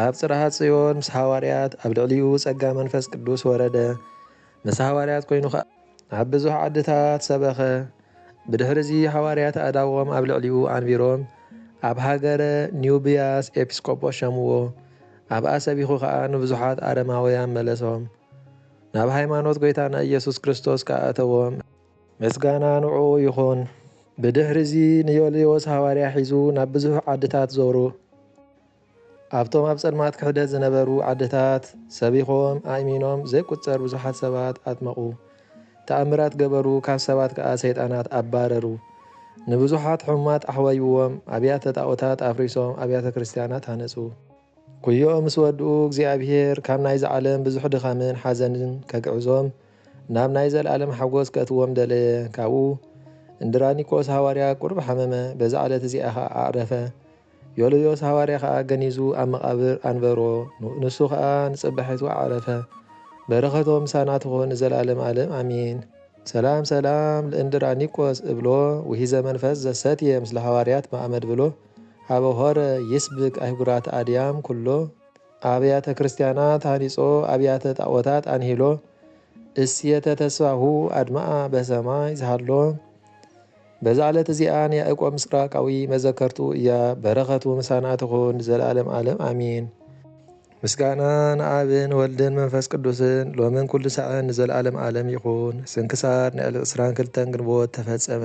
ኣብ ጽርሃ ጽዮን ምስ ሃዋርያት ኣብ ልዕሊኡ ጸጋ መንፈስ ቅዱስ ወረደ፣ ምስ ሃዋርያት ኮይኑ ከኣ ኣብ ብዙሕ ዓድታት ሰበኸ። ብድሕርዚ ሃዋርያት ኣእዳዎም ኣብ ልዕሊኡ ኣንቢሮም ኣብ ሃገረ ኒውብያስ ኤጲስቆጶስ ሸምዎ፣ ኣብኣ ሰቢኹ ከኣ ንብዙሓት ኣረማውያን መለሶም፣ ናብ ሃይማኖት ጎይታና ኢየሱስ ክርስቶስ ከኣ ኣእተዎም። ምስጋና ንዕኡ ይኹን። ብድሕሪዚ ንዮልዮስ ሃዋርያ ሒዙ ናብ ብዙሕ ዓድታት ዞሩ። ኣብቶም ኣብ ጸልማት ክሕደት ዝነበሩ ዓድታት ሰቢኾም ኣእሚኖም ዘይቁጸር ብዙሓት ሰባት ኣጥመቑ። ተኣምራት ገበሩ ካብ ሰባት ከኣ ሰይጣናት ኣባረሩ። ንብዙሓት ሕሙማት ኣሕወይዎም፣ ኣብያተ ጣኦታት ኣፍሪሶም ኣብያተ ክርስትያናት ሃነጹ። ኩዮ ምስ ወድኡ እግዚኣብሄር ካብ ናይዚ ዓለም ብዙሕ ድኻምን ሓዘንን ከግዕዞም ናብ ናይ ዘለኣለም ሓጐስ ከእትዎም ደለየ። ካብኡ፣ እንድራኒቆስ ሃዋርያ ቁሩብ ሓመመ፣ በዛ ዕለት እዚኣ ኸኣ ኣዕረፈ። ዮልዮስ ሃዋርያ ኸኣ ገኒዙ ኣብ መቓብር ኣንበሮ፣ ንሱ ኸኣ ንጽባሒቱ ኣዕረፈ። በረኸቶም ምሳና ትኹን ንዘለኣለም ኣለም ኣሜን። ሰላም ሰላም ለእንድራኒቆስ እብሎ ውሒዘ መንፈስ ዘሰትየ ምስለ ሃዋርያት መኣመድብሎ ኀበ ሖረ ይስብክ ኣህጉራተ ኣድያም ኵሎ። ኣብያተ ክርስቲያናት ሃኒጾ ኣብያተ ጣዖታት ኣንሂሎ እሴተ ተስፋሁ ኣድመኣ በሰማይ ዝሃሎ በዛ ዕለት እዚኣ ንያእቆብ ምስራቃዊ መዘከርቱ እያ በረኸቱ ምሳና ትኹን ዘላለም ዓለም ኣሚን። ምስጋና ንኣብን ወልድን መንፈስ ቅዱስን ሎምን ኩሉ ሳዕን ንዘላለም ዓለም ይኹን። ስንክሳር ንዕሊ ዕስራን ክልተን ግንቦት ተፈጸመ።